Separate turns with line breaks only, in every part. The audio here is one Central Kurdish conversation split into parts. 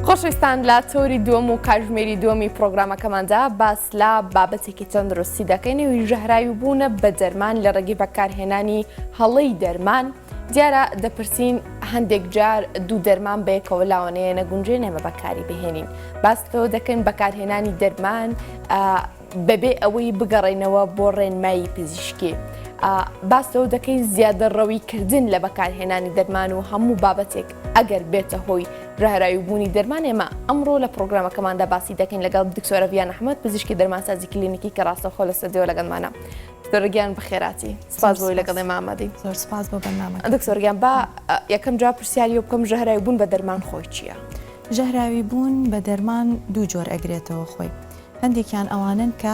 خۆشویستان لە تۆری دووەم و کاژمێری دووەمی پرۆگرامەکەماندا باس لە بابەتێکی تەندروستی دەکەین و ژەهراوی بوونە بە دەرمان لە ڕێگەی بەکارهێنانی هەڵەی دەرمان دیارە دەپرسین هەندێک جار دوو دەرمان بەیەکەوە لاوانەیە نەگونجێ نەمە بەکاری بهێنین باستەوە دەکەین بەکارهێنانی دەرمان بەبێ ئەوەی بگەڕێنەوە بۆ ڕێنمایی پزیشکی ئا باس لەوە دەکەین زیادە ڕەوی کردن لە بەکارهێنانی دەرمان و هەموو بابەتێک ئەگەر بێتە هۆی براهراوی بوونی دەرمان ئێمە ئەمڕۆ لە پرۆگرامەکەماندا باسی دەکەین لەگەڵ دکتۆرە ڤیان ئەحمەد پزیشکی دەرمانسازی کلینیکی کە ڕاستەوخۆ لە سەدەوە لەگەڵمانە دکتۆرگیان بەخێراتی سپاس بۆی لەگەڵ ئێمامەدی زۆر سپاس بۆ بەنامە
دکتۆرگیان با
یەکەم جا پرسیاری و بکەم ژەهراوی بوون بە دەرمان خۆی چییە؟ ژەهراوی
بوون بە دەرمان دوو جۆر ئەگرێتەوە خۆی هەندێکیان ئەوانەن کە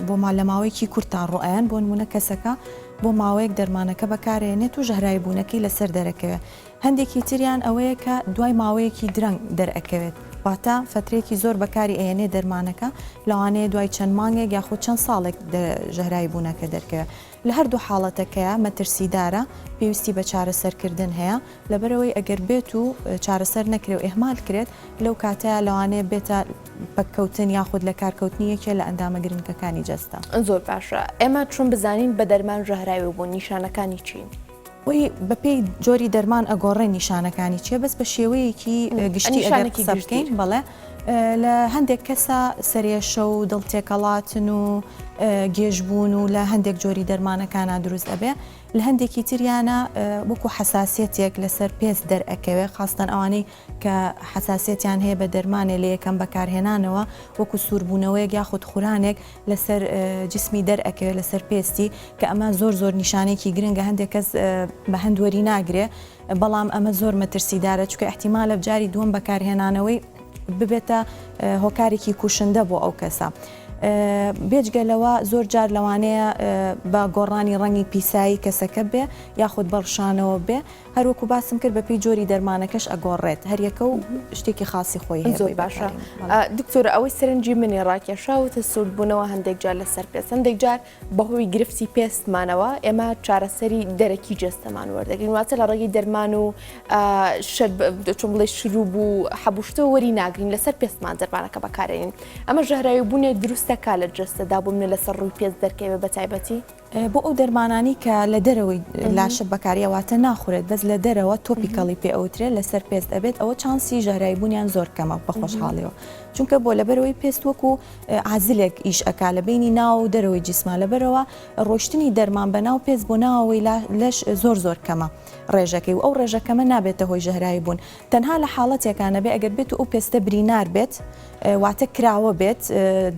بۆ ما لە ماوەیەکی کورتدا ڕۆئەیەن، بۆ نموونە کەسەکە بۆ ماوەیەک دەرمانەکە بەکارئەهێنێت و ژەهراویبوونەکەی لەسەر دەرەکەوێت، هەندێکی تریان ئەوەیە کە دوای ماوەیەکی درەنگ دەرئەکەوێت، واتە فەترەیەکی زۆر بەکاری ئەهێنێت دەرمانەکە، لەوانەیە دوای چەند مانگێک یاخود چەند ساڵێک ژەهراویبوونەکە دەرکەوێت. لە هەردوو حاڵەتەکەیا مەترسیدارە، پێویستی بە چارەسەرکردن هەیە، لەبەرئەوەی ئەگەر بێت و چارەسەر نەکرێ و ئیهمال کرێت، لەو کاتەیا لەوانەیە بێتە پەککەوتن یاخود لەکارکەوتنی یەکێ لە ئەندامە گرنگەکانی جەستە. زۆر باشە
ئێمە چون بزانین بە دەرمان ژەهراوی بوون نیشانەکانی چین؟ وی بەپێی
جۆری دەرمان ئەگۆڕێ نیشانەکانی چیە بەس بە شێوەیەکی گشتی ئەگەر قسە بکەین بەڵێ لە هەندێک کەسە سرێشە و دڵ تێکەڵاتن و گێژبوون و لە هەندێک جۆری دەرمانەکانە دروست ئەبێ لە هەندێکی تریانە وەکو حساسەتێک لەسەر پێست دەرئەکەوێ خاستن ئەوانەی کە حەساسیەتیان هەیە بە دەرمانێ لە یەکەم بەکارهێنانەوە وەکو سوربوونەوەیەک یاخود خورانێک لەسەر جسمی دەرئەکەوێت لەسەر پێستی کە ئەمە زۆر زۆر نیشانێکی گرنگە هەندێک کەس بە هەند وەری ناگرێ بەڵام ئەمە زۆر مەترسیدارە چکە احتیمالە جاری دووەم بەکارهێنانەوەی ببێتە هۆکارێکی کوشندە بۆ ئەو کەسە. بێجگە لەوە زۆر جار لەوانەیە بە گۆڕانی ڕەنگی پیسایی کەسەکە بێ یاخود بەڵشانەوە بێ هەر وەکو باسم کرد بەپێی جۆری دەرمانەکەش ئەگۆڕێت هەریەکە و شتێکی خاسی خۆی هەیە زۆر باشە
دکتۆرە ئەوەی سەرنجی منی ڕاکێشاوتە سوودبوونەوە هەندێک جار لەسەر پێست هەندێک جار بەهۆی گرفتی پێستمانەوە ئێمە چارەسەری دەرەکی جەستەمان وەردەگرین واتە لە ڕێگەی دەرمان و چۆن بڵێ شروب و حەبوشتە وەری ناگرین لەسەر پێستمان دەرمانەکە بەکارێنین ئەمە ژەهراوی بوونێ دروستەکە لە جەستەدا بوو منە لەسەر ڕووی پێست دەرکەوێ بە تایبەتی بۆ ئەو دەرمانانەی
کە لە دەرەوەی لاشە بەکاریە واتە ناخورێت بەس لە دەرەوە تۆپیکەڵی پێ ئەوترێت لەسەر پێست ئەبێت ئەوە چانسی ژەهراوی بوونیان زۆر کەمە بە خۆشحاڵیەوە چونکە بۆ لەبەرەوەی پێست وەکو عازلێک ئیش ئەک لە بینی ناو و دەرەوەی جیسما لەبەرەوە ڕۆشتنی دەرمان بە ناو پێست بۆ ناوەوەی لەش زۆر زۆر کەمە ڕێژەکەی و ئەو ڕێژەکەمە نابێتە هۆی ژەهراوی بوون تەنها لە حاڵەتێکانە بێ ئەگەر بێت و ئەو پێستە برینار بێت واتە کراوە بێت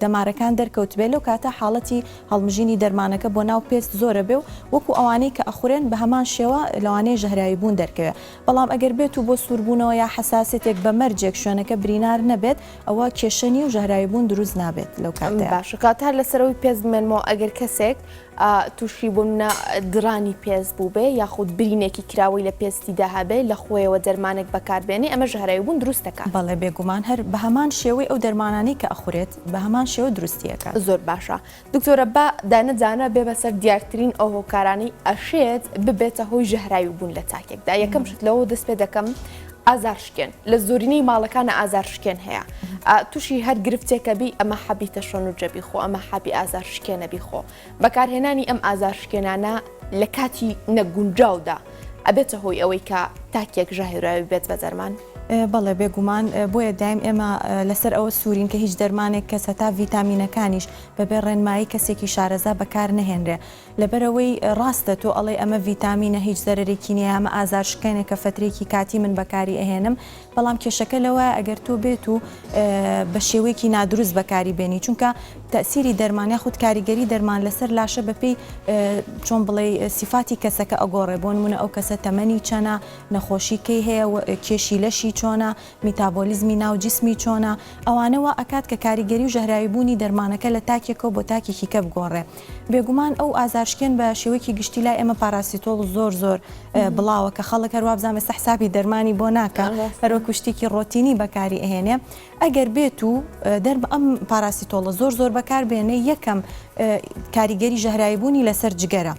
دەمارەکان دەرکەوت بێت لەو کاتە حاڵەتی هەڵمژینی دەرمانەکە بۆ ناو پێست زۆرە بێ و وەکو ئەوانەی کە ئەخورێن بە هەمان شێوە لەوانەیە ژەهراوی بوون دەرکەوێ بەڵام ئەگەر بێت و بۆ سووربوونەوە یا حەساسێتێک بە مەرجێک شوێنەکە برینار نەبێت ئەوە کێشە نیە و ژەهراوی بوون دروست نابێت لەو کاتەیا. باشە کاتە لە سەرەوەی
پێست بمێنمەوە ئەگەر کەسێک تووشی بۆ منە دڕانی پێست بووبێ یاخود برینێکی کراوەی لە پێستی دا هەبێ لە خۆیەوە دەرمانێک بەکار بێنێ ئەمە ژەهراوی بوون دروست دەکات؟ بەڵێ بێگومان هەر
بە هەمان شێوەی ئەو دەرمانانەی کە ئەخورێت. بە هەمان شێوە دروستی ئەکات. زۆر باشە
دکتۆرە با دانە دانە بێ بەسەر دیارترین ئەو هۆکارانەی ئەشێت ببێتە هۆی ژەهراوی بوون لە تاکێکدا یەکەم شت لەوە دەست پێ دەکەم ئازار شکێن لە زۆرینەی ماڵەکانە ئازار شکێن هەیە تووشی هەر گرفتێکە بی ئەمە حەبیتە شۆن و جەبی خۆ ئەمە حەبی ئازار شکێنە بی خۆ بەکارهێنانی ئەم ئازارشکێنانە لە کاتی نەگونجاودا ئەبێتە هۆی ئەوەی کە تاکێک ژاهێراوی بێت بە دەرمان؟ بەڵێ بێگومان،
بۆیە دایم ئێمە لەسەر ئەوە سوورین کە هیچ دەرمانێک کەس هەتا ڤیتامینەکانیش بەبێ ڕێنمایی کەسێکی شارەزا بەکار نەهێنرێ. لەبەرئەوەی ڕاستە تۆ ئەڵێی ئەمە ڤیتامینە هیچ زەرەرێکی نیە، ئەمە ئازارشکێنێکە فترەیەکی کاتی من بەکاری ئەهێنم، بەڵام کێشەکە لەوەیە ئەگەر تۆ بێت و بە شێوەیەکی نادروست بەکاری بێنی چونکە تەسیری دەرمان یاخود کاریگەری دەرمان لەسەر لاشە بەپی چۆن بڵێ سیفاتی کەسەکە ئەگۆڕێ بۆن منە ئەو کەسە تەمەنی چەنە نەخۆشی کەی هەیە کێشی لەشی چۆنە میتابۆلیزمی ناو جسمی چۆنە ئەوانەوە ئەکات کە کاریگەری و ژەهراوی بوونی دەرمانەکە لە تاکێکەوە بۆ تاکێکی کە بگۆڕێ بێگومان ئەو ئازارشکێن بە شێوەیەکی گشتی لای ئێمە پاراسیتۆڵ زۆر زۆر بڵاوە کە خەڵک هەر وابزان ئێستا حسابی دەرمانی بۆ ناکە هەروەکو شتێکی ڕۆتینی بەکاری ئەهێنێ ئەگەر بێت و دەرمە ئەم پاراسیتۆڵە زۆر زۆر بەکاربێنێ یەکەم کاریگەری ژەهراویبوونی لەسەر جگەرە.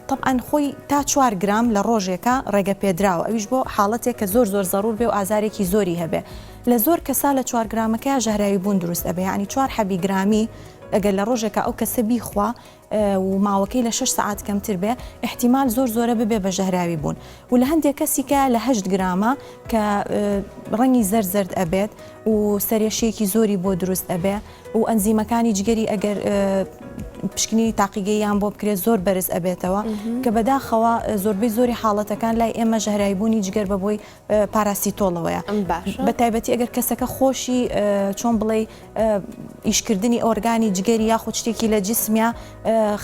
تەبعەن خۆی تا چوار گرام لە ڕۆژێکا ڕێگەپێدراوە ئەویش بۆ حاڵەتێک کە زۆر زۆر زەڕوور بێ و ئازارێکی زۆری هەبێ لە زۆر کەسا لە چوار گرامەکەیا ژەهراوی بوون دروست ئەبێ یانی چوار حەبی گرامی ئەگەر لە ڕۆژێکا ئەو کەسە بیخوا و ماوەکەی لە شەش سەعات کەمتر بێ احتیمال زۆر زۆرە ببێ بە ژەهراوی بوون و لە هەندێک کەسیکە لە هەشت گرامە کە ڕەنگی زەرد زەرد ئەبێت و سەرێشەیەکی زۆری بۆ دروست ئەبێ و ئەنزیمەکانی جگەری ئەگەر پشکنینی تاقیگەییان بۆ بکرێت زۆر بەرز ئەبێتەوە کە بەداخەوە زۆربەی زۆری حاڵەتەکان لای ئێمە ژەهرایبوونی جگەر بە بۆی پاراسیتۆڵەوەیە بە تایبەتی ئەگەر کەسەکە خۆشی چۆن بڵێ ئیشکردنی ئۆرگانی جگەری یاخود شتێکی لە جسمیا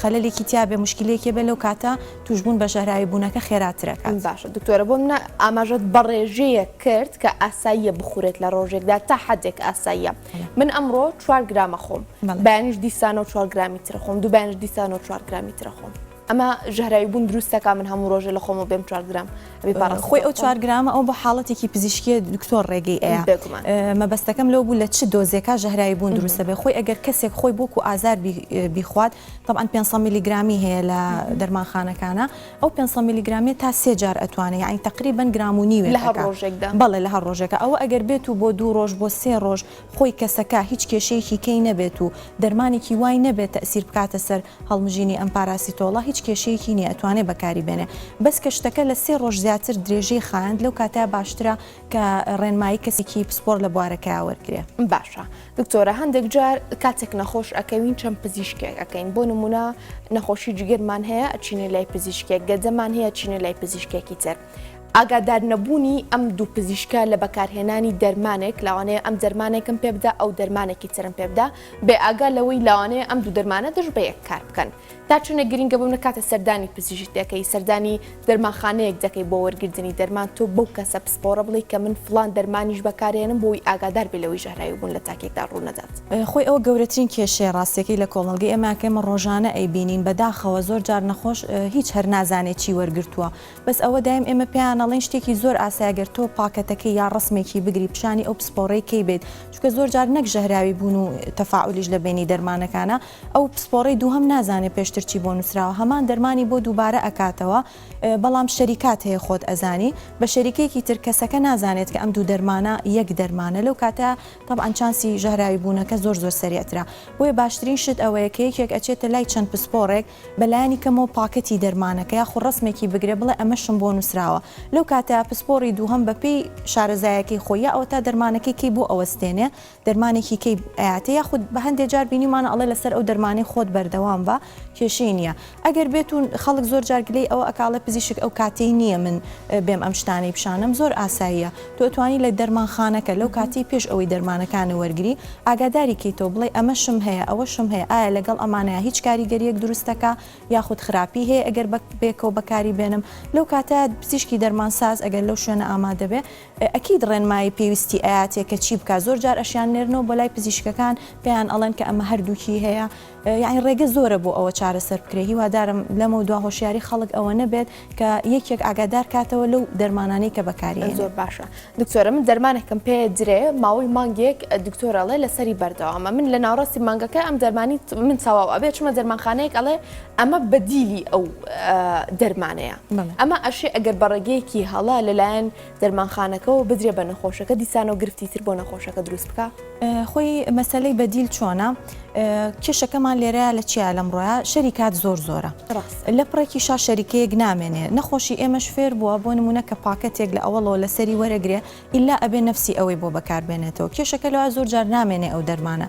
خەلێکی تیاابێ مشکلێکی بێ لەو کاتە توشببوون بە ژەهرایی بوونەکە خێراترەکە باشە دکتۆرە بۆ
منە ئاماژەت بەڕێژەیە کرد کە ئاساییە بخورێت لە ڕۆژێکدا تا حدێک ئاساییە من ئەمڕۆ چوار گرامە خۆم بەیانیش دیسانەوە چوار گرامی ترە خۆم دوو بەیانش دیسانەوە چوار گرامی ترە خۆم ئەمە ژەهراوی بوون دروستەکە من هەموو ڕۆژە لە خۆمە بێم چوار گرام خۆی ئەو چوار
گرامە ئەو بە حاڵەتێکی پزیشکیە دکتۆر ڕێگەی ئەیە مەبەستەکەم لەو بوو لە چ دۆزێکا ژەهراوی بوون دروستە بێ خۆی ئەگەر کەسێک خۆی بۆکو ئازار بیخوات تەبعەن پێنج سەد میلی گرامی هەیە لە دەرمانخانەکانە ئەو پێنج سەد میلی گرامیە تا سێ جار ئەتوانێ یانی تەقریبەن گرام و نیوێ لە هەر لەکا ڕۆژێکدا بەڵێ
لە هەر ڕۆژێکە ئەوە
ئەگەر بێت و بۆ دوو ڕۆژ بۆ سێ ڕۆژ خۆی کەسەکە هیچ کێشەیەکی کەی نەبێت و دەرمانێکی وای نەبێت تەئسیر بکاتە سەر هەڵمژینی ئەم پاراسیتۆڵە هیچ کێشەیەکی نیە ئەتوانێ بەکاری بێنێ بەس کە شتەکە لە سێ ڕۆژ زیاتر درێژەی خایاند لەو کاتە باشترە کە ڕێنمایی کەسێکی پسپۆڕ لە بوارەکەیا وەرگرێ. باشە
دکتۆرە هەندێک جار کاتێک نەخۆش ئەکەوین چەند پزیشکێک ئەکەین بۆ نمونە نەخۆشی جگەرمان هەیە ئەچینە لای پزیشکێک گەدەمان هەیە چینە لای پزیشکێکی تر. ئاگادار نەبوونی ئەم دوو پزیشکە لە بەکارهێنانی دەرمانێک لاوانەیە ئەم دەرمانێکم پێبدا ئەو دەرمانێکی ترم پێبدا بێ ئاگا لەوەی لاوانەیە ئەم دوو دەرمانە دژ بە یەک کار بکەن. تا چونە گرینگە بۆ منە کاتە سەردانی پزیشک دەکەی سەردانی دەرمانخانەیەک دەکەی بۆ وەرگرتنی دەرمان تۆ بەو کەسە پسپۆڕە بڵێ کە من فلان دەرمانیش بەکارێنم بۆی ئاگادار بێ لەوەی ژەهراوی بوون لە تاکێکدا ڕوونەدات. خۆی ئەوە گەورەترین
کێشەیە ڕاستیەکەی لە کۆمەڵگەی ئێمە کە ئێمە ڕۆژانە ئەیبینین بەداخەوە زۆر جار نەخۆش هیچ هەر نازانێ چی وەرگرتووە بەس ئەوە دایم ئێمە پێیان ئەڵێن شتێکی زۆر ئاسایە گەر تۆ پاکەتەکەی یا ڕەسمێکی بگری پیشانی ئەو پسپۆڕەی کەی بێت چونکە زۆر جار نەک ژەهراوی بوون و تەفاعولیش لە بەینی دەرمانەکانە ئەو پسپۆڕەی دووهەم نازانێ پێشتر چی بۆ نووسراوە هەمان دەرمانی بۆ دووبارە ئەکاتەوە بەڵام شەریکات هەیە خۆت ئەزانی بە شەریکێکی تر کەسەکە نازانێت کە ئەم دوو دەرمانە یەک دەرمانە لەو کاتە طبعا چانسی ژەهراوی بوونەکە زۆر زۆر سریعترا بۆیە باشترین شت ئەوەیە کە یەکێک ئەچێتە لای چەند پسپۆڕێک بەلایانی کەمەوە پاکەتی دەرمانەکە یاخو ڕسمێکی بگرێ بڵێ ئەمەشم بۆ نووسراوە لەو کاتە پسپۆڕی دووهەم بەپێی شارەزایەکەی خۆی ئەوە تا دەرمانەکەی کەی بۆ ئەوەستێنێ دەرمانێکی کەی ئەیاتێ یاخود بە هەندێ جار بینیمانە ئەڵێ لەسەر ئەو دەرمانەی خۆت بەردەوام بە کێشەی نییە ئەگەر بێت و خەڵک زۆر جارگلەی ئەوە ئەکاڵێ پزیشک ئەو کاتەی نییە من بێم ئەم شتانەی پیشانم زۆر ئاساییە تۆتوانی لە دەرمانخانەکە لەو کاتی پێش ئەوەی دەرمانەکانە وەرگری ئاگاداری کەیتەوە بڵێ ئەمەشم هەیە ئەوەشم هەیە ئایا لەگەڵ ئەمانەیە هیچ کاریگەریەک دروستەکە یاخود خراپی هەیە ئەگەر بەک بێکەوە بەکاری بێنم لەو کاتە پزیشکی دەرمانساز ئەگەر لەو شوێنە ئامادەبێ ئەکید ڕێنمایی پێویستی ئەیاتێ کە چی بکا زۆر جار ئەشیان نێرنەوە بۆ لای پزیشکەکان پێیان ئەڵێن کە ئەمە هەردووکی هەیە یانی ڕێگە زۆرە بۆ ئەوە چارەسەر بکرێ هیوادارم لەمەو دوا هۆشیاری خەڵک ئەوە نەبێت کە یەکێک ئاگادار کاتەوە لەو دەرمانانەی کە بەکاری هێنێ. زۆر باشە
دکتۆرە من دەرمانێکم پێ درێ ماوەی مانگێک دکتۆر ئەڵێ لەسەری بەردەوامە من لە ناوڕاستی مانگەکە ئەم دەرمانی من تەواو ئەبێ چمە دەرمانخانەیەک ئەڵێ ئەمە بەدیلی ئەو دەرمانەیە ئەمە ئەشێ ئەگەر بەڕێگەیەکی هەڵە لەلایەن دەرمانخانەکەەوە بدرێ بە نەخۆشەکە دیسانەوە گرفتی تر بۆ نەخۆشەکە دروست بکە خۆی
مەسلەی بەدیل چۆنە کێشەکەمان لێرە لە چیا لەم ڕۆە شەری کات زۆر زۆرە لە پڕێکی شا شەریکەیەک نامێنێ نەخۆشی ئێمەش فێر بووە بۆ نمونە کە پاکەتێک لە ئەوڵەوە لەسەری وەرەگرێ ئیلا ئەبێ نەفسی ئەوەی بۆ بەکار بێنێتەوە کێشەکە لەوایە زۆر جار نامێنێ ئەو دەرمانە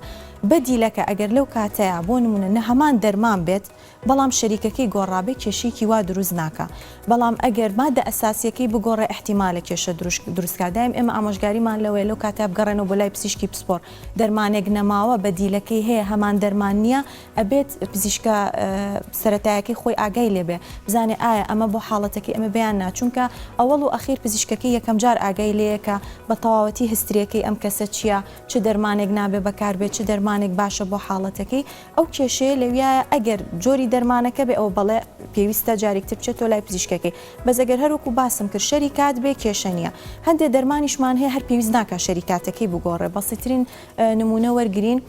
بەدیلەکە ئەگەر لەو کاتەیا بۆ نمونە نە هەمان دەرمان بێت بەڵام شەریکەکەی گۆڕابێ کێشەیەکی وا دروست ناکا بەڵام ئەگەر مادە ئەساسیەکەی بگۆڕێ ئیحتیمالە کێشە دروشت دروستکا دایم ئێمە ئامۆژگاریمان لەوەیە لەو کاتەیا بگەڕێنەوە بۆ لای پزیشکی پسپۆڕ دەرمانێک نەماوە بەدیلەکەی هەیە هەمان دەرمان نیە ئەبێت پزیشکە سەرەتایەکەی خۆی ئاگای لێبێ بزانێ ئایا ئەمە بۆ حاڵەتەکەی ئەمە بیان نا چونکە ئەوەڵ و ئەخیر پزیشکەکەی یەکەم جار ئاگای لێیە کە بە تەواوەتی هستریەکەی ئەم کەسە چیە چ دەرمانێک نابێ بەکاربێ چ دەرمانێک باشە بۆ حاڵەتەکەی ئەو کێشەیە لەویایە ئەگەر جۆری دەرمانەکە بێ ئەوە بەڵێ پێویستە جارێکتر بچێتۆ لای پزیشکەکەی بەس ئەگەر هەروەکو باسم کرد شەری کات بێ کێشە نیە هەندێ دەرمانیشمان هەیە هەر پێویست ناکە شەریکاتەکەی بگۆڕێ بەسیترین نمونە وەرگین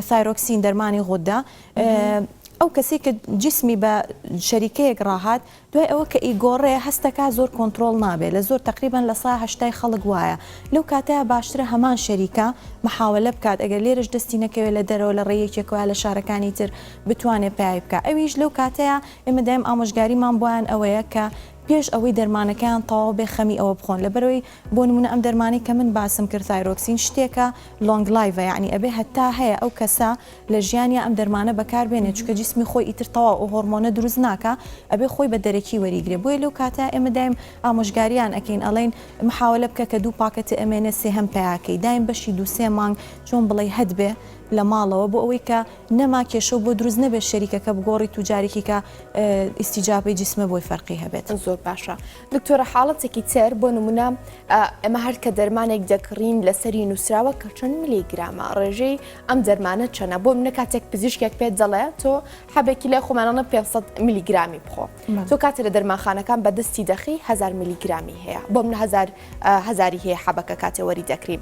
ثایرۆکسین دەرمانی غودە ئەو کەسی کە جسمی بە شەریکەیەک ڕاهات دوای ئەوە کە ئیگۆڕێ هەستەکە زۆر کۆنتترۆل نابێت لە زۆر تقریبان لە سا هشتای خەڵک وایە لەو کاتە باشترە هەمان شەریکە محاولە بکات ئەگەر لێرش دەستی نەکەوێت لە دەرەوە لە ڕێیەکێکەوە لە شارەکانی تر بتوانێت پیاوی بکە ئەویش لەو کاتەیە ئێمە دایم ئامۆژگاریمان بۆیان ئەوەیە کە پێش ئەوەی دەرمانەکەیان تەواو بێ خەمی ئەوە بخۆن لەبەرەوەی بۆ نمونە ئەم دەرمانەی کە من باسم کرد ثایرۆکسین شتێکە لۆنگ لایڤە یەعنی ئەبێ هەتا هەیە ئەو کەسە لە ژیانیا ئەم دەرمانە بەکار بێنێ چونکە جیسمی خۆی ئیتر تەواو ئەو هۆڕمۆنە دروست ناکا ئەبێ خۆی بە دەرەکی وەریگرێ بۆیە لەو کاتە ئێمە دایم ئامۆژگاریان ئەکەین ئەڵێین محاوەلە بکە کە دوو پاکە تئەمێنێ سێهەم پیا کەی دایم بەشی دوو سێ مانگ چۆن بڵێی هەت بێ لە ماڵەوە بۆ ئەوەی کە نەما کێشەو بۆ دروست نەبێ شەریکەکە بگۆڕیت و جارێکی کە ئیستیجابەی جیسمە بۆی فەرقی هەبێت. زۆر باشە
دکتۆرە حاڵەتێکی تر بۆ نمونە ئەمە هەر کە دەرمانێک دەکڕین لەسەری نووسراوە کە چەند ملی گرامە ڕێژەی ئەم دەرمانە چەنە بۆ منە کاتێک پزیشکێک پێت دەڵێ تۆ حەبێکی لای خۆمانانە 500 میلیگرامی بخۆ تۆ کاتێ لە دەرمانخانەکان بەدەستی دەخی هزار میلیگرامی هەیە بۆ منهزار هزاری هەیە حەبەکە کاتێوەری دەکرین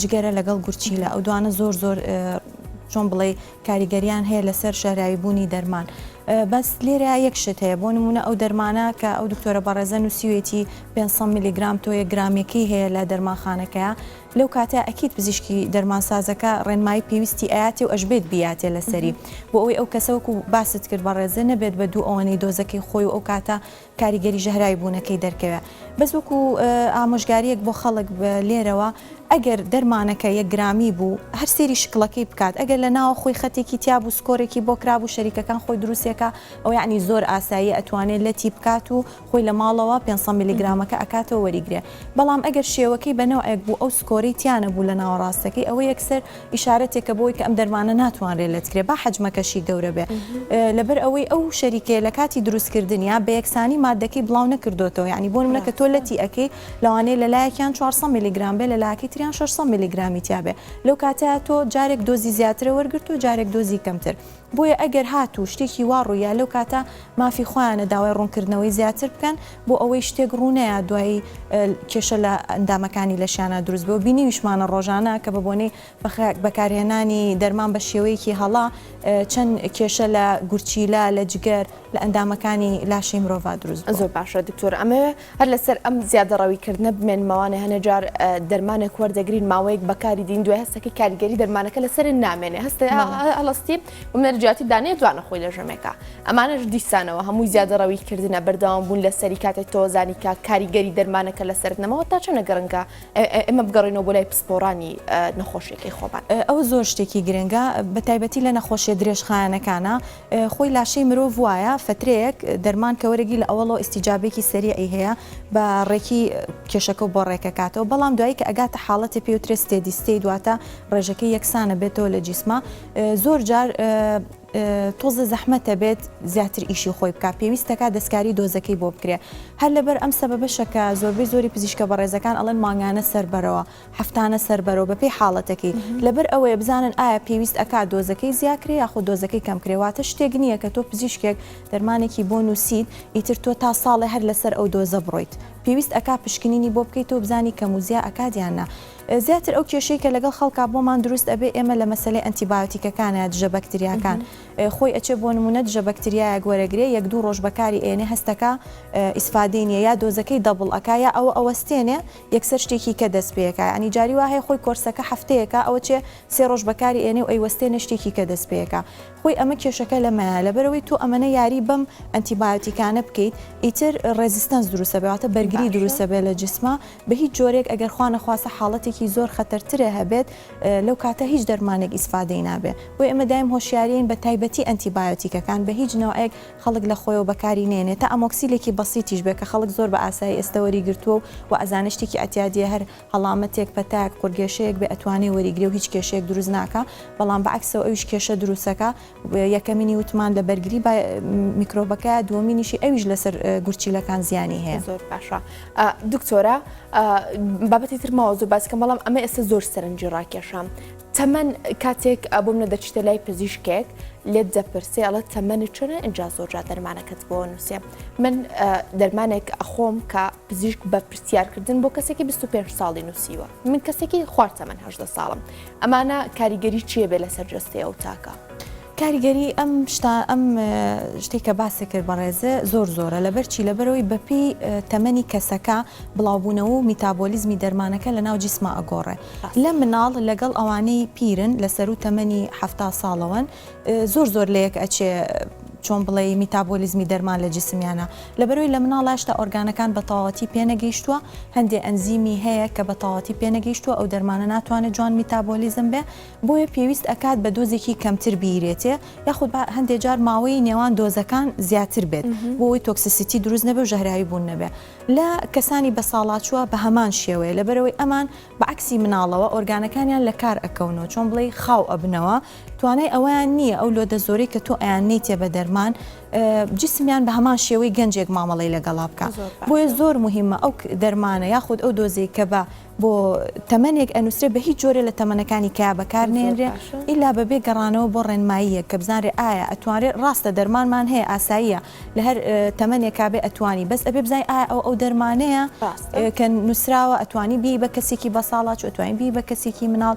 جگەرە لەگەڵ گورچیلە ئەو دوانە زۆر زۆر چۆن بڵێ کاریگەریان هەیە لەسەر شاراوی بوونی دەرمان بەس لێرە یەک شت هەیە بۆ نمونە ئەو دەرمانە کە ئەو دکتۆرە بەڕێزە نووسیوێتی 500 میلیگرام تۆیە گرامێکی هەیە لە دەرمانخانەکە لەو کاتە ئەکییت پزیشکی دەرمانسازەکە ڕێنمایی پێویستی ئااتێ و ئەشبێت بیاتێ لەسەری بۆ ئەوی ئەو کەسەوەکو باست کرد بەڕێزە نەبێت بە دوو ئەوەنەی دۆزەکەی خۆی و ئەو کاتە کاریگەری ژەهراوی بوونەکەی دەرکەوێ بەس وەکو ئامۆژگاریەک بۆ خەڵک لێرەوە ئەگەر دەرمانەکە یەک گرامی بوو هەر سێری شکڵەکەی بکات ئەگەر لە ناوە خۆی خەتێکی تیابوو سکۆرێکی بۆ کرابوو شەریکەکان خۆی دروستێکە ئەو یعنی زۆر ئاسایی ئەتوانێت لەتی بکات و خۆی لە ماڵەوە پێنج سەد ملی گرامەکە ئەکاتەوە وەریگرێ. بەڵام ئەگەر شێوەکەی بە نەوعێک بوو ئەو سکۆرەی تیا نەبوو لە ناوەڕاستەکەی ئەوە یەکسەر ئیشارەتێکە بۆی کە ئەم دەرمانە ناتوانرێت لەتکرێت با حەجمەکەشی گەورە بێت لەبەر ئەوەی ئەو شەریکەیە لە کاتی دروستکردنیا بە یەکسانی ماددەکەی بڵاو نەکردۆتەوە یعنی بۆ نمونە کە تۆ لەتی ئەکەی لەوانەیە لە لایەکیان 400 میلیگرام بێ لە لایەکەی تریان 600 میلیگرامی تیابێ لەو کاتەیە تۆ جارێک دۆزی زیاترە وەرگرت و جارێک دۆزی کەمتر بۆیە ئەگەر هاتوو شتێکی وا ڕووییا لەو کاتە مافی خۆیانە داوای ڕوونکردنەوەی زیاتر بکەن بۆ ئەوەی شتێک ڕوو نەیا دوایی کێشە لە ئەندامەکانی لەشیانا دروست بێ و بینیویشمانە ڕۆژانە کە بە بۆنەی بەکارهێنانی دەرمان بە شێوەیەکی هەڵە چەند کێشە لە گورچیلە لە جگەر لە ئەندامەکانی لاشەی مرۆڤ دروست بوو. زۆر باشە دکتۆر
ئەمەوێ هەر لەسەر ئەم زیادەڕەوی کردنە بمێنمەوانێ هەنێ جار دەرمانێک وەردەگرین ماوەیەک بەکاری دین دوای هەستەکەی کاریگەری دەرمانەکە لەسەر نامێنێ هەستێ هەڵستی بمێنەر جیاتی دانێ جوانە خۆی لە ژەمێکە ئەمانەش دیسانەوە هەمووی زیادەڕەوی کردنە بەردەوام بوون لەسەری کاتێک تۆزانی کە کاریگەری دەرمانەکە لەسەر نەمەوە تا چەنە گەڕنگە ئێمە بگەڕینەوە بۆ لای پسپۆڕانی نەخۆشیەکەی خۆمان ئەوە زۆر شتێکی
گرنگە بە تایبەتی لە نەخۆشیە درێژخایەنەکانە خۆی لاشەی مرۆڤ وایە فەترەیەک دەرمان کە وەرەگی لە ئەوەڵۆ ئیستیجابەیەکی سەریعی هەیە بە ڕێکی کێشەکەو بۆ ڕێکەکاتەوە بەڵام دوایی کە ئەگاتە حاڵەتێ پێوترێ ستێدی ستەیت واتە ڕێژەکەی یەکسانە بێتەوە لە جیسما زۆر جار تۆزە زەحمەتە بێت زیاتر ئیشی خۆی بکە پێویستەکە دەستکاری دۆزەکەی بۆ بکرێ هەر لەبەر ئەم سەبەبەشە کە زۆربەی زۆری پزیشکە بەڕێزەکان ئەڵەن مانگانە سەربەرەوە هەفتانە سەربەرەوە بەپێی حاڵەتەکەی لەبەر ئەوەیە بزانن ئایا پێویست ئەکات دۆزەکەی زیاکرێ یاخۆ دۆزەکەی کەمکرێ واتە شتێک نییە کە تۆ پزیشکێک دەرمانێکی بۆ نووسیت ئیتر تۆ تا ساڵێ هەر لەسەر ئەو دۆزە بڕۆیت پێویست ئەکات پشکنینی بۆ بکەیتەوە بزانی کەم و زیا ئەکات یان نا زیاتر ئەو کێشەی کە لەگەڵ خەڵکا بۆمان دروست ئەبێ ئێمە لە مەسەلەی ئەنتی بایۆتیکەکانە دژە بەکتریاکان خۆی ئەچێ بۆ نمونە دژە بەکتریایەک وەرەگرێ یەک دوو ڕۆژ بەکاری ئێنێ هەستەکە ئیسفادەی نیە یا دۆزەکەی دەبڵ ئەکا یا ئەوە ئەوەستێنێ یەکسەر شتێکی کە دەست پێکا یانی جاری وا هەیە خۆی کۆرسەکە هەفتەیەکە ئەوە چێ سێ ڕۆژ بەکاری ئێنێ و ئەیوەستێنێ شتێکی کە دەست پێکا خۆی ئەمە کێشەکە لەمەیە لەبەرەوەی تۆ ئەمەنە یاری بەم ئەنتی بایۆتیکانە بکەیت ئیتر ڕێزیستەنس دروسەبێ واتە بەرگری باشە. دروسەبێ لە جسما بە هیچ جۆرێک ئەگەر خوا نەخواستە حاڵەتێکی زۆر خەتەر ترێ هەبێت لەو کاتە هیچ دەرمانێک ئیسفادەی نابێ بۆی ئێمە دایم هۆشیارین بە تایبەتی ئەنتی بایۆتیکەکان بە هیچ نەوعێک خەڵک لە خۆیەوە بەکاری نەیەنێ تا ئەمۆکسیلێکی بەسیتیش بێ کە خەڵک زۆر بە ئاسایی ئێستە وەری گرتووە و وە ئەزانێ شتێکی ئەتیادیە هەر هەڵامەتێک پەتایەک قورگێشەیەک بێ ئەتوانێ وەری گرێ و هیچ کێشەیەک دروست ناکا بەڵام بە عەکسەوە ئەویش کێشە دروست ئەکا یەکەمینی وتمان لە بەرگری بە میکرۆبەکەیە دووەمینیشی ئەویش لەسەر گورچیلەکان زیانی هەیە. زۆر باشە
دکتۆرە بابەتی تر ماوە زۆر باس کەم بەڵام ئەمە ئێستە زۆر سەرنجی ڕاکێشام تەمەن کاتێک بۆمنە دەچیتە لای پزیشکێک لێت دەپرسێ ئەڵە تەمەنی چۆنە ئەجا زۆرجا دەرمانەکەت بۆ نووسێ من دەرمانێک ئەخۆم کە پزیشک بە پرسیارکردن بۆ کەسێکی 25 ساڵی نووسیوە من کەسێکی خوارد تەمەەن هەدە ساڵم ئەمانە کاریگەری چیە بێ لەسەر جستەیە و تاکە. کاریگەری
ئەم شتە ئەم شتەی کە باسی کرد بەڕێزێ زۆر زۆرە لەبەر چی لەبەرەوەی بەپی تەمەنی کەسەکە بڵاوبوونەوە و میتابۆلیزمی دەرمانەکە لە ناو جیسما ئەگۆڕێ لە مناڵ لەگەڵ ئەوانەی پیرن لە سەروو تەمەنی حەفتا ساڵەوەن زۆر زۆر لە یەک ئەچێ چۆن بڵێی میتابۆلیزمی دەرمان لە جیسمیانە لەبەرەوەی لە مناڵ هێشتا ئۆرگانەکان بە تەواوەتی پێ نەگەیشتووە هەندێ ئەنزیمی هەیە کە بە تەواوەتی پێ نەگەیشتووە ئەو دەرمانە ناتوانێت جوان میتابۆلیزم بێ بۆیە پێویست ئەکات بە دۆزێکی کەمتر بیرێتێ یاخود با هەندێ جار ماوەی نێوان دۆزەکان زیاتر بێت بۆ ئەوەی تۆکسسیتی دروست نەبێ و ژەهراوی بوون نەبێ لە کەسانی بەساڵاچووە بە هەمان شێوەیە لەبەرئەوەی ئەمان بە عەکسی مناڵەوە ئۆرگانەکانیان لە کار ئەکەونەوە چۆن بڵێی خاو ئەبنەوە توانای ئەوەیان نییە ئەو لۆدە زۆرەی کە تۆ ئەیاننێیتێ بە دەرمان جسمیان بە هەمان شێوەی گەنجێک مامەڵەی لەگەڵا بکا بۆیە زۆر موهیمە ئەو دەرمانە یاخود ئەو دۆزەی کە بە بۆ تەمەنێک ئەنووسرێ بە هیچ جۆرێ لە تەمەنەکانی کەیا بەکار نەیەنرێ ئیلا بە بێ گەڕانەوە بۆ ڕێنماییەک کە بزانرێ ئایا ئەتوانرێ ڕاستە دەرمانمان هەیە ئاساییە لە هەر تەمەنێکا بێ ئەتوانی بەس ئەبێ بزانین ئایا ئەو ئەو دەرمانەیە کە نووسراوە ئەتوانی بێی بە کەسێکی بەساڵاچوو ئەتوانی بێی بە کەسێکی مناڵ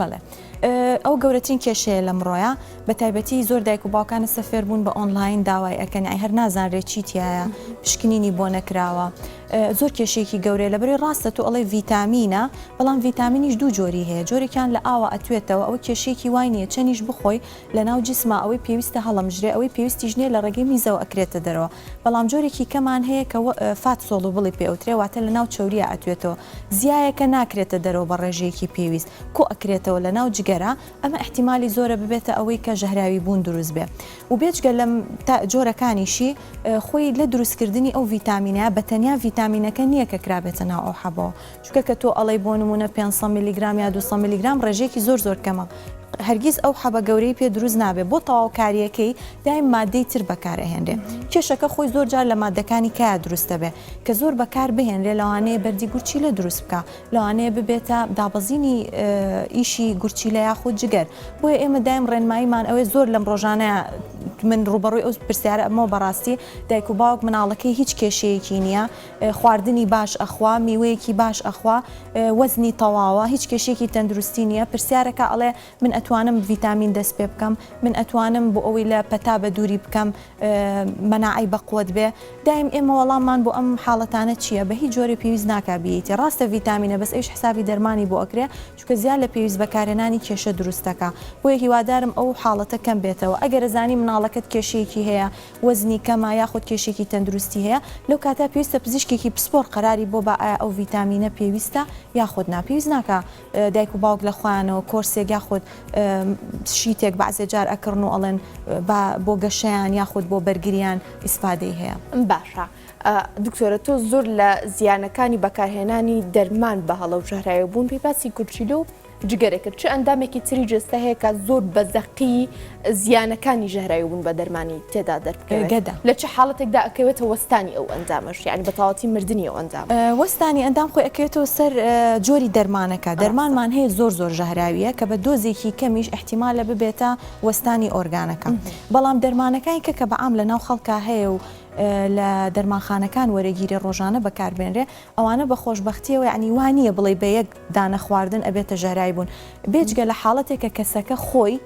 بەڵێ
ئەو گەورەترین کێشەیە لەمڕۆیە بەتایبەتی زۆر دایک و باوکانە سەفێر بوون بە ئۆنلاین داوای ئەکەن ئای هەر نازانرێت چیتیایە پشکنینی بۆ نەکراوە زۆر کێشێکی گەورەیە لە بەری ڕاستە تۆ ئەڵی ڤیتامینە بەڵام ڤیتامینیش دوو جۆری هەیە جۆرێکیان لە ئاوە ئەتوێتەوە ئەو کێشێکی وای نیە چەنیش بخۆی لەناو جسما ئەوەی پێویستە هەڵەمژرێ ئەوەی پێویستیش نیە لە ڕێگەی میزەوە ئەکرێتە دەرەوە بەڵام جۆرێکی کەمان هەیە کە وە فات سۆڵوبڵی پێ ئەوترێ واتە لەناو چەوریا ئەتوێتەوە زیایەکە ناکرێتە دەرەوە بە ڕێژەیەکی پێویست کۆ ئەکرێتەوە لەناو جگەرە ئەمە ئیحتیمالی زۆرە ببێتە ئەوەی کە ژەهراوی بوون دروست بێ و بێجگە لەم تا جۆرەکانیشی خۆی لە دروست کردنی ئەو ڤیتامینە بە تەنیا ڤیتامینەکە نیە کە کرابێتە ناو ئەو حەبەوە چونکە کە تۆ ئەڵێی بۆ نمونە پێنج سەد میلیگرام یا دوو سەد میلیگرام ڕێژەیەکی زۆر زۆر کەمە هەرگیز ئەو حەبە گەورەی پێ دروست نابێت بۆ تەواوکاریەکەی دایم مادەی تر بەکار ئەهێنرێ کێشەکە خۆی زۆر جار لە مادەکانی کایا دروست دەبێت کە زۆر بەکار بهێنرێ لەوانەیە بەردی گورچیلە دروست بکا لەوانەیە ببێتە دابەزینی ئیشی گورچیلە یاخود جگەر بۆیە ئێمە دایم ڕێنماییمان ئەوێ زۆر لەم ڕۆژانە من ڕوبەڕووی ئەو پرسیارە ئەمەوە بەڕاستی دایک و باوک مناڵەکەی هیچ کێشەیەکی نییە خواردنی باش ئەخوا میوەیەکی باش ئەخوا وەزنی تەواوە هیچ کێشەیەکی تەندروستی نیە پرسیارەکە ئەڵێ من ئەتوانم ڤیتامین دەست پێ بکەم من ئەتوانم بۆ ئەوەی لە پەتا بە دووری بکەم مەناعەی بەقوەت بێ دایم ئێمە وەڵاممان بۆ ئەم حاڵەتانە چیە بە هیچ جۆرێ پێویست ناکا بیەیتی ڕاستە ڤیتامینە بەس ئەویش حسابی دەرمانی بۆ ئەکرێ چونکە زیاد لە پێویست بەکارهێنانی کێشە دروست دەکا بۆیە هیوادارم ئەو حاڵەتە کەم بێتەوە ئەگەر ئەزانی مناڵەکەت کێشەیەکی هەیە وەزنی کەمە یاخود کێشێکی تەندروستی هەیە لەو کاتە پێویستە پزیشکێکی پسپۆڕ قەراری بۆ با ئایا ئەو ڤیتامینە پێویستە یاخود نا پێویست ناکا دایک و باوک لە خۆیانەوە کۆرسێک یاخود شیتێک بەعزێ جار ئەکڕن و ئەڵێن با بۆ گەشەیان یاخود بۆ بەرگریان ئیسپادەی هەیە. باشە
دکتۆرە تۆ زۆر لە زیانەکانی بەکارهێنانی دەرمان بە هەڵە و ژەهراوی بوون پێی باسی گورچیلە و جگەرەکرد چ ئەندامێکی تری جەستە هەیە کە زۆر بە زەقی زیانەکانی ژەهراوی بوون بە دەرمانی تێدا دەربکەوێت؟ گەدە. لە چ حاڵەتێکدا ئەکەوێتە وەستانی ئەو ئەندامەش یانی بە تەواوەتی مردنی ئەو ئەندامە؟ وەستانی ئەندام خۆی
ئەکەوێتەوە سەر جۆری دەرمانەکە، دەرمانمان هەیە زۆر زۆر ژەهراوییە کە بە دۆزێکی کەمیش ئیحتیمالە ببێتە وەستانی ئۆرگانەکە بەڵام دەرمانەکانی کە کە بە عام لەناو خەڵکا هەیە و لە دەرمانخانەکان وەرەگیرێ ڕۆژانە بەکاربێنرێ ئەوانە بە خۆشبەختییەوە یانی وا نییە بڵێی بە یەک دانە خواردن ئەبێتە ژەهراوی بوون بێجگە لە حاڵەتێک کە کەسەکە خۆی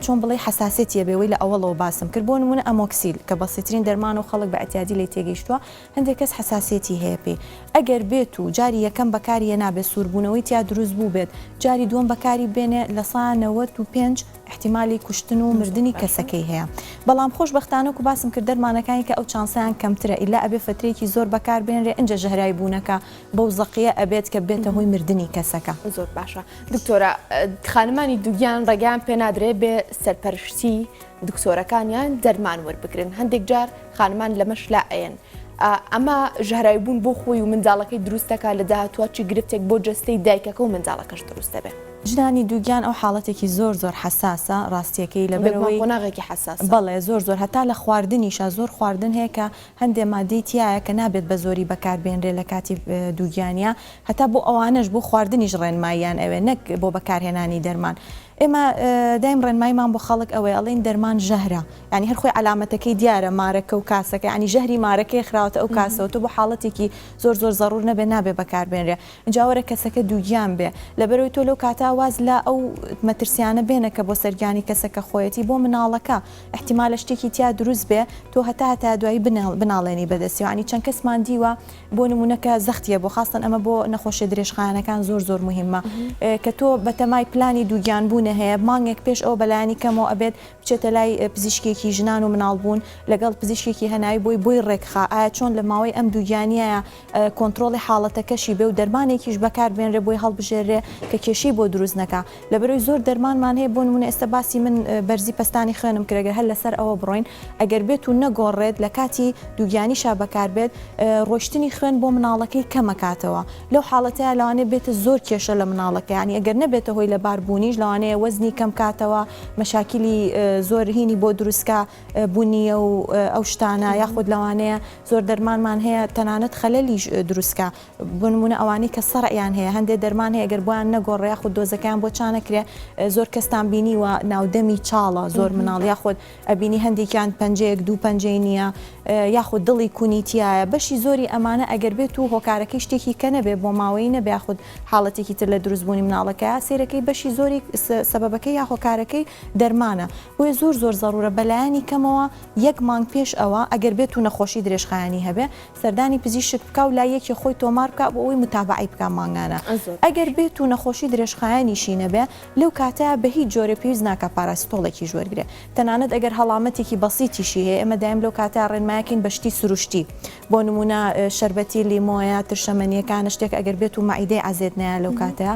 چۆن بڵێی حەساسێتی هەبێ وەی لە ئەوەڵەوە باسم کرد بۆ نمونە ئەمۆکسیل کە بەسیترین دەرمان و خەڵک بە ئەتیادی لێی تێگەیشتووە هەندێک کەس حەساسێتی هەیە پێی ئەگەر بێت و جاری یەکەم بەکاری هێنابێ سووربوونەوەی تیا دروست بوو بێت جاری دووەم بەکاری بێنێ لە سا نەوەد و پێنج احتیمالی کوشتن و مردنی کەسەکەی هەیە بەڵام خۆش بەختانەکو باسم کرد دەرمانەکانی کە ئەو چانسەیان کەمترە ئیلا ئەبێ فترەیەکی زۆر بەکار بێنرێ ئینجا ژەهراوی بوونەکە بەو زەقیە ئەبێت کە بێتە هۆی مردنی کەسەکە. زۆر باشە
دکتۆرە خانمانی دوگیان ڕێگەیان پێ نادرێ بێ سەرپەرشتی دکتۆرەکانیان دەرمان وەربگرن هەندێک جار خانمان لەمەش لا ئەەن ئەمە ژەهرای بوون بۆ خۆی و منداڵەکەی دروستەکە لە داهاتوە چی گرفتێک بۆ جستەی دایکەکە و منداڵەکەش دروست دەبێت. ژنانی دووگیان ئەو
حاڵەتێکی زۆر زۆر حساسە ڕاستیەکەی لەبەرەوەی قۆناغێکی حساس
بەڵێ زۆر زۆر هەتا
لە خواردنیشە زۆر خواردن هەیە کە هەندێ ماددەی تیایە کە نابێت بە زۆری بەکار بێنرێ لە کاتی دووگیانیا هەتا بۆ ئەوانەش بۆ خواردنیش ڕێنماییان ئەوێ نەک بۆ بەکار هێنانی دەرمان ئێمە دایم ڕێنمایمان بۆ خەڵک ئەوەیە ئەڵێین دەرمان ژەهرە یانی هەر خۆی عەلامەتەکەی دیارە مارەکە و کاسەکە یانی ژەهری مارەکەیە خراوەتە ئەو کاسەوە تۆ بۆ حاڵەتێکی زۆر زۆر زەڕوور نەبێ نابێ بەکار بێنرێ ئینجا وەرە کەسەکە دووگیان بێ لەبەرەوەی تۆ لەو کاتە واز لە ئەو مەترسیانە بێنە کە بۆ سەر گیانی کەسەکە خۆیەتی بۆ مناڵەکە ئیحتیمالە شتێکی تیا دروست بێ تۆ هەتا هەتا دوایی بناڵێنی بەدەستی یانی چەند کەسمان دیوە بۆ نمونە کە زەختیە بۆ خاستەن ئەمە بۆ نەخۆشیە درێژخایەنەکان زۆر زۆر مهمە کە تۆ بەتەمای پلانی دووگیان بوونە هەیە مانگێک پێش ئەو بەلایانی کەمەوە ئەبێت بچێتە لای پزیشکێکی ژنان و مناڵ بوون لەگەڵ پزیشکێکی هەناوی بۆی بۆی ڕێکخا ئایا چۆن لە ماوەی ئەم دووگیانیایە کۆنترۆڵی حاڵەتەکەشی بێ و دەرمانێکیش بەکار بێنرێ بۆی هەڵبژێررێ کە کێشەی بۆ دروست نەکا لەبەرەوەی زۆر دەرمانمان هەیە بۆ نمونە ئێستا باسی من بەرزی پەستانی خوێنم کرد گەر هەر لەسەر ئەوە بڕۆین ئەگەر بێت و نەگۆڕێت لە کاتی دووگیانیشا بەکار بێت ڕۆشتنی خوێن بۆ مناڵەکەی کەمەکاتەوە لەو حاڵەتەیا لەوانەیە بێتە زۆر کێشە لە مناڵەکە یانی ئەگەر نەبێتە هۆی لەبار بوونیش لەوانەیە وەزنی کەم کاتەوە مەشاکیلی زۆر هینی بۆ دروستکا بونیە و ئەو شتانە یاخود لەوانەیە زۆر دەرمانمان هەیە تەنانەت خەلەلیش دروستکە بنمونە ئەوانەی کە سەڕیان هەیە هەندێک دەرمان هەیە گەر بۆیان نەگۆڕێ خود دۆزەکەیان بۆ چانەکرێ زۆر کەستان بینی و ناودەمی چاڵە زۆر مناڵ یاخود ئەبینی هەندێکیان پەنجەیەک دوو پەنجەی نییە یاخود دڵی کونیتیایە بەشی زۆری ئەمانە ئەگەر بێت و هۆکارەکەی شتێکی کە نەبێ بۆ ماوەی نەبێ خود حاڵەتێکی تر لە دروستبوونی مناڵەکە سێرەکەی بەشی زۆری سەبەکەی یا هۆکارەکەی دەرمانە بۆیە زۆر زۆر زەرورە بەلایەنی کەمەوە یەک مانگ پێش ئەوە ئەگەر بێتو نەخۆشی درێژخایەنی هەبێ سەردانی پزیشک بکا و لای یەکی خۆی تۆمار بکا بۆ ئەوەی متابەعەی بکا مانگانە ئەگەر بێتو نەخۆشی درێژخایەنیشی نەبێ لەو کاتەیا بە هیچ جۆرێ پێویست ناکا پاراسیتۆڵێکیش وەرگرێ تەنانەت ئەگەر هەڵامەتێکی بەسیتیشی هەیە ئێمە دایم لەو کاتەیا ڕێنمایەکەین بە شتی سروشتی بۆ نمونە شەربەتی لیمۆیە ترشەمەنیەکانە شتێک ئەگەر بێتو مەعیدەی عەزێت نەیا لەو کاتەیا